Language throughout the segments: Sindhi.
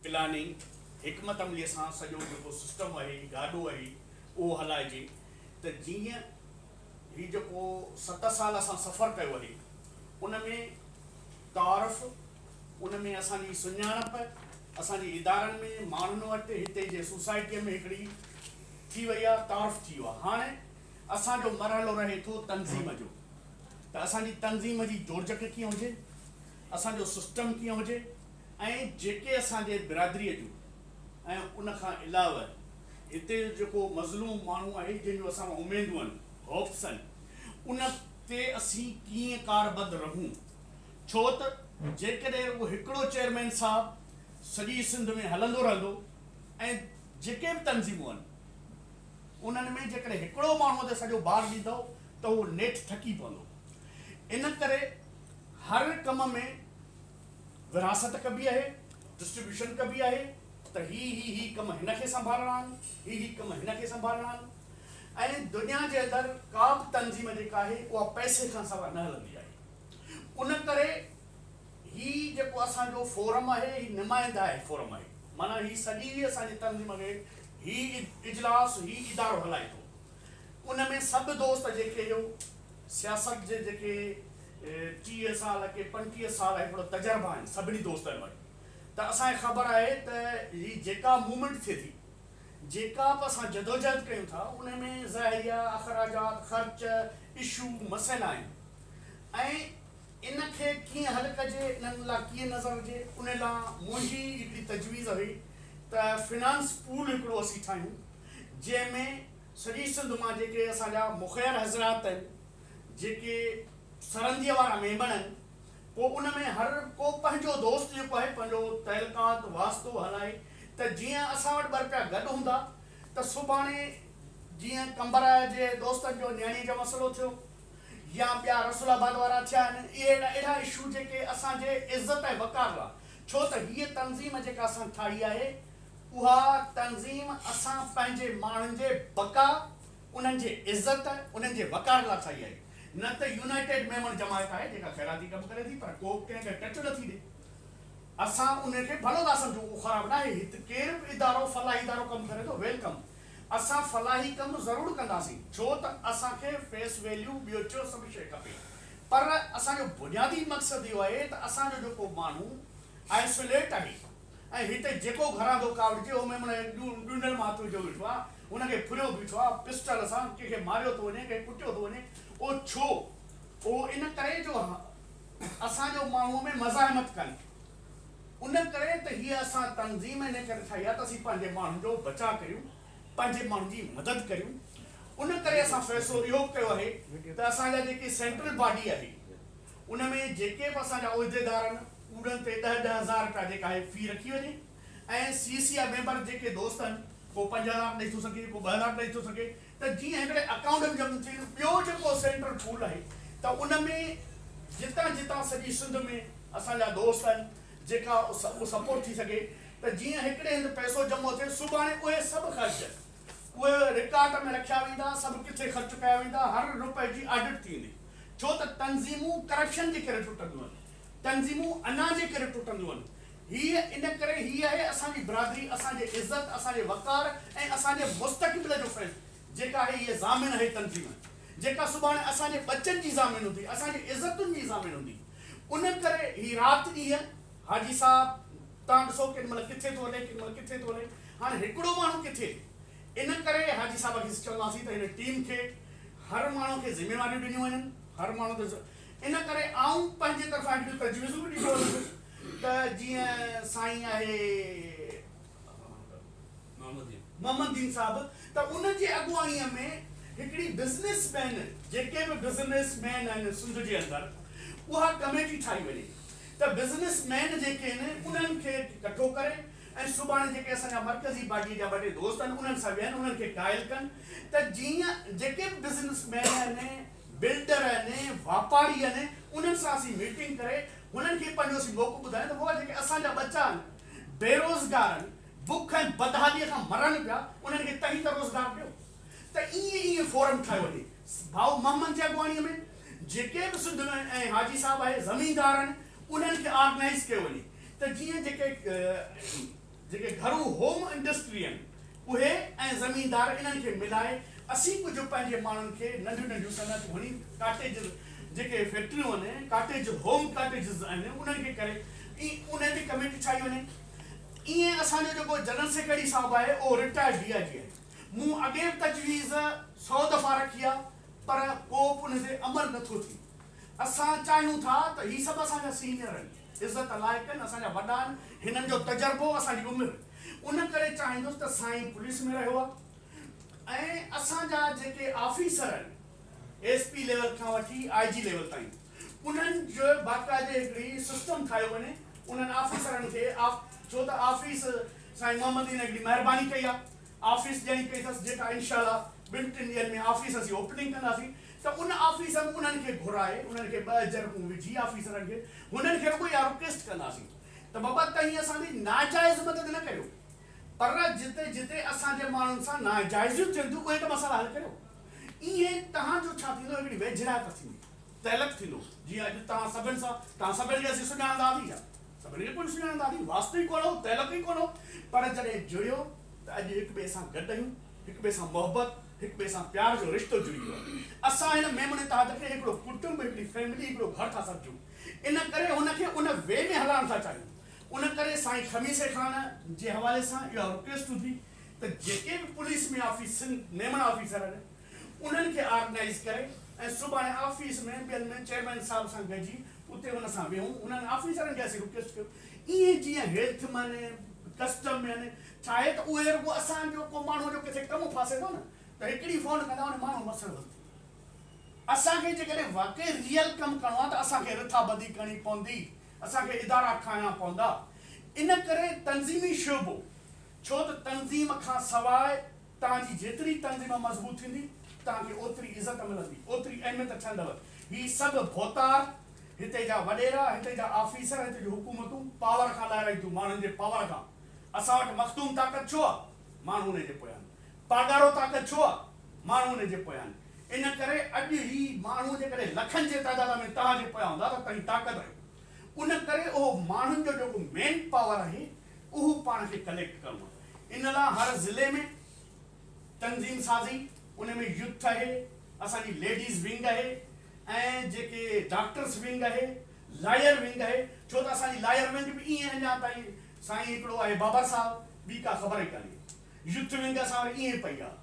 پلاننگ حڪمت عمليء سان سڄو جيڪو سسٽم اهي گاڏو اهي اهو هلائجي ته جيئن هي جيڪو ست سال اسان سفر ڪيو اهي ان ۾ تعارف ان ۾ اسان جي سڃاڻپ اسان جي ادارن ۾ ماڻهن وٽ هتي جي سوسائٽيء ۾ هڪڙي ٿي وئي آهي تعارف ٿي ويو آهي هاڻ اسان جو مرحلو رهي ٿو تنظيم جو ته اسان جي تنظيم جي جوڙجڪ ڪيئن هجي اسان جو سسٽم ڪيئن هجي. ۽ جيڪي اسان جي برادري جون ۽ ان کان علاوه هتي جو جيڪو مظلوم ماڻهو آهي جنهن جون اسان مان اميدون آهن، Hopes، آهن ان تي اسين ڪيئن ڪاربد رهون ڇو ته جيڪڏهن رڳو هڪڙو چيئرمين صاحب سڄي سنڌ ۾ هلندو رهندو ۽ جيڪي به تنظيمون آهن انهن ۾ جيڪڏهن هڪڙو ماڻهو تي سڄو بار ڏيندو ته اهو نيٺ ٿڪي پوندو ان ڪري هر ڪم ۾ ورهاست ڪبي آهي، Distribution، ڪبي آهي ته هي هي هي ڪم هن کي سنڀالڻا آهن، هي هي ڪم هن کي سنڀالڻا آهن ۽ دنيا جي اندر ڪا به تنظيم جيڪا آهي اها پئسي کان سوا نه هلندي آهي ان ڪري هي جيڪو اسان جو فورم آهي هي نمائندائي فورم آهي معنيٰ هي سڄي اسان جي تنظيم کي هي اجلاس هي ادارو هلائي ٿو. ان ۾ سڀ دوست جيڪي جو سياست جي جيڪي ٽيهه سال ڪي پنجٽيهه سال هي ٿورا تجربا آهن سڀني دوستن وٽ ته اسان کي خبر آهي ته هي جيڪا موومينٽ ٿئي ٿي جيڪا به اسان جدوجهد ڪيون ٿا ان ۾ ذريعا اخراجات خرچ اشو مسئلا آهن ۽ ان کي ڪيئن حل ڪجي انهن لا ڪيئن نظر هجي ان لا منهنجي هڪڙي تجويز هئي ته فنانس پول هڪڙو اسين ٺاهيون جنهن ۾ سڄي سنڌ مان جيڪي اسان جا مخير حضرات آهن، جيڪي سرنديء وارا ميمڻ آهن، پوء ان ۾ هر ڪو پنهنجو دوست جيڪو آهي، پنهنجو تعلقات، واسطو هلائي ته جيئن اسان وٽ ٻه رپيا گڏ هوندا ته سڀاڻي جيئن قمبراء جي دوستن جو نياڻيء جو مسئلو ٿيو يا ٻيا رسول آباد وارا ٿيا آهن، اهي اهڙا اشو جيڪي اسان جي عزت ۽ وقار لاء ڇو ته هيء تنظيم جيڪا اسان ٺاهي آهي، اها تنظيم اسان پنهنجي ماڻهن جي بقا، انهن جي عزت، انهن جي وقار لاء ٺاهي آهي، نه ته يونائيٽيڊ ميمڻ جماعت آهي جيڪا خيراتي ڪم ڪري ٿي پر ڪو به ڪنهن کي ٽچ نٿي ڏي. اسان ان کي ڀلو ٿا سمجهون، اهو خراب ناهي، هت ڪير به ادارو، فلاحي ادارو ڪم ڪري ٿو، ويلڪم، اسان فلاحي ڪم ضرور ڪنداسين، ڇو ته اسان کي فيس ويليو، ٻيوچو سڀ شيء کپي، پر اسان جو بنيادي مقصد اهو آهي ته اسان جو جيڪو ماڻهو آئسوليٽ آهي، ۽ هتي جيڪو گهراندو ڪاوڙجي اهو ميمڻ جي ڏونڊل مان هٿ وجهيو ويٺو آهي، ان کي ڦريو بيٺو آهي، پسٽل سان ڪنهن کي ماريو ٿو وڃي، ڪنهن کي ڪٽيو ٿو وڃي، اهو ڇو؟ اهو ان ڪري جو اسان جو ماڻهوء ۾ مزاحمت ڪانهي، ان ڪري ته هيء اسان تنظيم ان ڪري ٺاهي آهي ته اسين پنهنجي ماڻهن جو بچاء ڪريون، پنهنجي ماڻهن جي مدد ڪريون، ان ڪري اسان فيصلو اهو به ڪيو آهي ته اسان جا جيڪي سينٽرل باڊي آهي، ان ۾ جيڪي به اسان جا عهديدار آهن اوڏن تي ڏهه ڏهه هزار رپيا جيڪا آهي في رکي وڃي ۽ سي سي جا ميمبر جيڪي دوست آهن ڪو پنج هزار ڏئي ٿو سگهي ڪو ٻه هزار ڏئي ٿو سگهي ته جيئن هڪڙي اڪائونٽ ۾ جمع ٿين ٻيو جيڪو سينٽرل پول آهي ته ان ۾ جتان جتان سڄي سنڌ ۾ اسان جا دوست آهن جيڪا اهو سپورٽ ٿي سگهي ته جيئن هڪڙي هنڌ پئسو جمع ٿئي سڀاڻي اهي سڀ خرچ اهي رڪارڊ ۾ رکيا ويندا سڀ ڪٿي خرچ ڪيا ويندا هر رپئي جي آڊٽ ٿيندي. ڇو ته تنظيمون ڪرپشن جي ڪري ٽٽنديون آهن، تنظيمون انا جي ڪري ٽٽنديون آهن. هيء ان ڪري هي آهي اسان جي برادري، اسان جي عزت، اسان جي وقار ۽ اسان جي مستقبل جو فيض، جيڪا آهي هيء ضامن آهي تنظيم، جيڪا سڀاڻي اسان جي ٻچن جي ضامن هوندي، اسان جي عزتن جي ضامن هوندي. ان ڪري هي رات ڏينهن حاجي صاحب توهان ڏسو ڪيڏي مهل ڪٿي ٿو هلي، ڪيڏي مهل ڪٿي ٿو هلي. هاڻ هڪڙو ماڻهو ڪٿي. ان ڪري حاجي صاحب کي چونداسين ته هن ٽيم کي هر ماڻهو کي ذميواريون ڏنيون وڃن هر ماڻهو تي ان ڪري آئون پنهنجي طرفان هڪ ڏينهن تجويزون به ڏيندو رهندس ته جيئن سائين آهي محمد دين صاحب ته ان جي اڳواڻيء ۾ هڪڙي بزنس مين جيڪي به بزنس مين آهن سنڌ جي اندر اها ڪميٽي ٺاهي وڃي ته بزنس مين جيڪي آهن انهن کي ڪٺو ڪري ۽ سڀاڻي جيڪي اسان جا مرڪزي پارٽيء جا ٻه ٽي دوست آهن، انهن سان ويهن، انهن کي قائل ڪن ته جيئن جيڪي به بزنس مين آهن، بلڊر آهن، واپاري آهن، انهن سان اسين ميٽنگ ڪري، هنن کي پنهنجو اسين موقعو ٻڌايون ته بابا جيڪي اسان جا ٻچا آهن، بيروزگار آهن، بک ۽ بدحاليء کان مرن پيا، انهن کي توهين ته روزگار ڏيو. ته ائين ائين فورم ٺاهيو وڃي. ڀائو محمد جي اڳواڻيء ۾ جيڪي به سنڌ ۾ ۽ حاجي صاحب آهي، زميندار آهن، انهن کي آرگنائيز ڪيو وڃي. ته جيئن جيڪي جيڪي گهرو هوم انڊسٽري آهن اهي ۽ زميندار انهن کي ملائي اسين ڪجهه پنهنجي ماڻهن کي ننڍيون ننڍيون صنعتون هڻي ڪاٽيجز جيڪي فيڪٽريون آهن ڪاٽيج هوم ڪاٽيجز آهن انهن کي ڪري انهن تي ڪميٽي ٺاهي وڃي ائين اسان جو جيڪو جنرل سيڪريٽري صاحب آهي اهو رٽائرڊ ڊي آء جي آهي مون اڳي به تجويز سو دفعا رکي آهي پر ڪو به ان تي عمل نٿو ٿئي اسان چاهيون ٿا ته هي سڀ اسان جا سينئر آهن عزت لائقن اسان جا وڏا آهن هنن جو تجربو اسان جي عمر ان ڪري چاهيندس ته سائين پوليس ۾ رهيو آهي ۽ اسان جا جيڪي آفيسر آهن ايس پي ليول کان وٺي آئي جي ليول تائين انهن جو باقاعدي هڪڙي سسٽم ٺاهيو وڃي انهن آفيسرن کي آف ڇو ته آفيس سائين محمد دين هڪڙي مهرباني ڪئي آهي آفيس ڏيڻي پئي اٿس جيڪا انشاء الله ٻن ٽن ڏينهن ۾ آفيس اسين اوپننگ ڪنداسين ته ان آفيس ۾ انهن کي گهرائي انهن کي ٻه جرڪون وجهي آفيسرن کي هنن کي رڳو اها رڪويسٽ ڪنداسين ته بابا توهين اسان جي ناجائز مدد نه ڪريو پر جتي جتي اسان جي ماڻهن سان ناجائزيون ٿين ٿيون اهي ته مسئلا حل ڪريو ايئن توهان جو ڇا ٿيندو هڪڙي ويجهڙائپ ٿيندي. تعلق ٿيندو جيئن اڄ توهان سڀن سان توهان سڀن کي اسين سڃاڻندا به يا سڀن کي ڪونه سڃاڻندا به واسطو ئي ڪونه هو تعلق ئي ڪونه هو پر جڏهن جڙيو ته اڄ هڪ ٻئي سان گڏ آهيون هڪ ٻئي سان محبت هڪ ٻئي سان پيار جو رشتو جڙي ويو آهي اسان هن ميمڻ اتحاد کي هڪڙو ڪٽنب هڪڙي فيملي هڪڙو گهر ٿا سمجهون ان ڪري هن کي ان وي ۾ هلائڻ ٿا چاهيون ان ڪري سائين خميسي خان جي حوالي سان اها رڪويسٽ هوندي ته جيڪي به پوليس ۾ آفيسن ميمڻ آفيسر آهن انهن کي آرگنائيز ڪري ۽ سڀاڻي آفيس ۾ ٻين ۾ چيئرمين صاحب سان گڏجي اتي ان سان ويهون انهن آفيسرن کي اسين رڪويسٽ ڪيو ايئن جيئن هيلٿ مين ڪسٽم مين چاهي ته اهي رڳو اسان جو ڪو ماڻهو جو ڪٿي ڪم ڦاسي ٿو نه ته هڪڙي فون ڪندا ان ماڻهو مسئلو حل ٿي ويندو اسان کي جيڪڏهن واقعي ريئل ڪم ڪرڻو آهي ته اسان کي رٿا بندي ڪرڻي پوندي اسان کي ادارا ٺاهڻا پوندا ان ڪري تنظيمي شعبو ڇو ته تنظيم کان سواء توهان جي جيتري تنظيم مضبوط ٿيندي، توهان کي اوتري عزت ملندي، اوتري اهميت ٺهندؤ. هي سڀ ڀوتار، هتي جا وڏيرا، هتي جا آفيسر، هتي جون حڪومتون پاور کان لائرائين ٿيون، ماڻهن جي پاور کان. اسان وٽ مخدوم طاقت ڇو آ؟ ماڻهو ان جي پويان آهن. پاڳارو طاقت ڇو آ؟ ماڻهو ان جي پويان آهن. ان ڪري اڄ هي ماڻهو جيڪڏهن لکن جي تعداد ۾ توهان جي پويان هوندا ته توهين طاقت آهيو. ان ڪري اهو ماڻهن جو جيڪو مين پاور آهي، اهو پاڻ کي ڪليڪٽ ڪرڻو آهي ان لا هر ضلعي ۾ تنظيم سازي ان ۾ يوٿ اهي اسان جي ليڊيز ونگ اهي ۽ جيڪي ڊاڪٽرس ونگ اهي لاير ونگ اهي ڇو ته اسان جي لاير ونگ به ايئن اڃا تائين سائين هڪڙو آهي بابر صاحب ٻي ڪا خبر ئي ڪانهي يوٿ ونگ اسان وٽ ايئن پئي آهي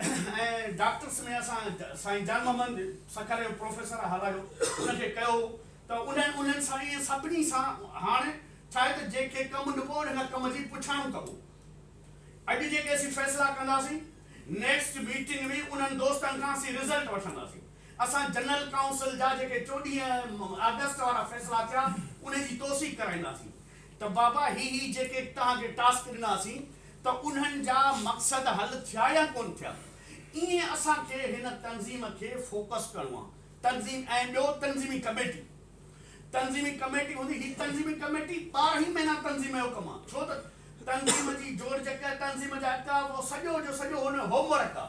۽ ڊاڪٽرس ۾ اسان سائين جان محمد سکر جو پروفيسر هالايو ان کي ڪيو هو ته انهن انهن سان ايئن سڀني سان هاڻ ڇاهي ته جنهن کي ڪم ڏبو ان کان ڪم جي پڇاڻو ڪبو. اڄ جيڪي اسين فيصلا ڪنداسين نيڪسٽ ميٽنگ ۾ انهن دوستن کان اسين رزلٽ وٺنداسين. اسان جنرل ڪائونسل جا جيڪي چوڏهين آگسٽ وارا فيصلا ٿيا انهي جي توثيق ڪرائينداسين ته بابا هي هي جيڪي توهان کي ٽاسڪ ڏناسين ته انهن جا مقصد حل ٿيا يا ڪونه ٿيا. ايئن اسان کي هن تنظيم کي فوڪس ڪرڻو آهي. تنظيم ۽ ٻيو تنظيمي ڪميٽي. تنظيمي ڪميٽي هوندي، هي تنظيمي ڪميٽي ٻارهن ئي مهينا تنظيم جو ڪم آ، ڇو ته تنظيم جي جوڙجڪ، تنظيم جا ڪم اهو سڄو جو سڄو هن جو هوم ورڪ آ،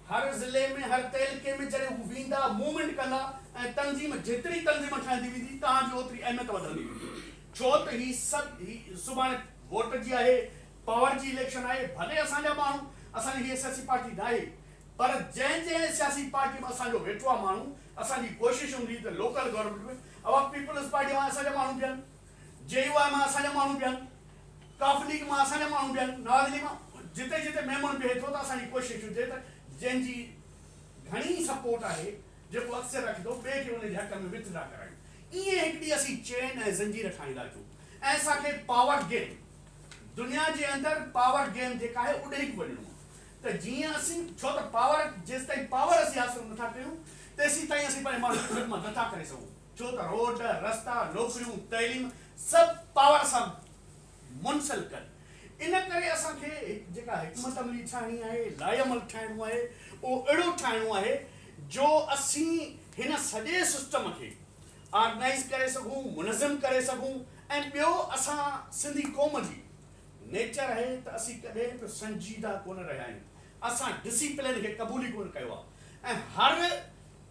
هر ضلعي ۾ هر تعلقي ۾ جڏهن هو ويندا، موومينٽ ڪندا ۽ تنظيم جيتري تنظيم ٺهندي ويندي تهان جي اوتري اهميت وڌندي ويندي، ڇو ته هي سڀ هي سڀاڻي ووٽ جي آهي، پاور جي اليڪشن آهي، ڀلي اسان جا ماڻهو، اسان جي هيء سياسي پارٽي ناهي، پر جنهن جنهن سياسي پارٽي ۾ اسان جو ويٺو آ ماڻهو، اسان جي ڪوشش هوندي ته لوڪل گورنمينٽ ۾ اوهان پيپلز پارٽي مان اسان جا ماڻهو بيهن، جي يو آء مان اسان جا ماڻهو بيهن، ڪاف ليگ مان اسان جا ماڻهو بيهن، نواز ليگ مان جتي جتي ميمڻ بيهي ٿو ته اسان جي ڪوشش هجي ته جنهن جي گهڻي سپورٽ آهي جيڪو اڪثريت رکي ٿو ٻئي کي ان جي حق ۾ وٿ ڊرا ڪرايون ائين هڪ ڏينهن اسين چين ۽ زنجير ٺاهيندا اچون ۽ اسان کي پاور گيم دنيا جي اندر پاور گيم جيڪا آهي اڏهيڪ وڃڻو آهي ته جيئن اسين ڇو ته پاور جيستائين پاور اسين حاصل نٿا ڪريون تيسين تائين اسين پنهنجي ماڻهن جي خدمت نٿا ڪري سگهون ڇو ته روڊ رستا نوڪريون تعليم سڀ پاور سان منسلڪن ان ڪري اسان کي جيڪا حڪمت عملي ٺاهڻي آهي لائحعمل ٺاهڻو آهي اهو اهڙو ٺاهڻو آهي جو اسين هن سڄي سسٽم کي آرگنائيز ڪري سگهون منظم ڪري سگهون ۽ ٻيو اسان سنڌي قوم جي نيچر آهي ته اسين ڪڏهن به سنجيده ڪونه رهيا آهيون، اسان ڊسيپلين کي قبول ئي ڪونه ڪيو آهي ۽ هر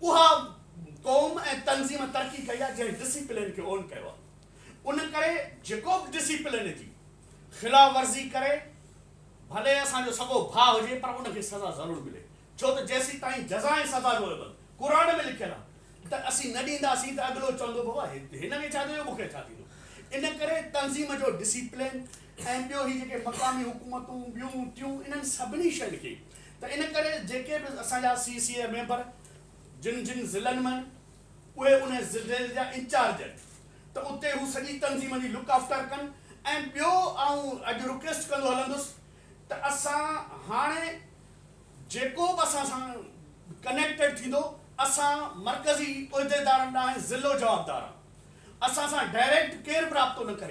اها قوم ۽ تنظيم ترقي ڪئي آهي جنهن ڊسيپلين کي اون ڪيو آهي ان ڪري جيڪو به ڊسيپلين جي خلاف ورزي ڪري ڀلي اسان جو سڳو ڀاء هجي پر ان کي سزا ضرور ملي ڇو ته جيسيتائين جزائن سزا جو عوض قرآن ۾ لکيل آهي ته اسين نه ڏينداسين ته اڳلو چوندو بابا هن کي ڇا ٿيو مون کي ڇا ٿيندو ان ڪري تنظيم جو ڊسيپلين ۽ ٻيو هي جيڪي مقامي حڪومتون ٻيون ٽيون انهن سڀني شين کي ته ان ڪري جيڪي به اسان جا سي سي اي ميمبر جن جن ضلعن م اهي ان ضلعي جا انچارج آهن ته اتي هو سڄي تنظيم جي لڪ آفٽر ڪن ۽ ٻيو آئون اڄ رڪيسٽ ڪندو هلندس ته اسان هاڻي جيڪو به اسان سان ڪنيڪٽيڊ ٿيندو اسان مرڪزي عهديدارن ڏانهن ضلعو جوابدار آ اسان سان ڊائريڪٽ ڪير به رابطو نه ڪري.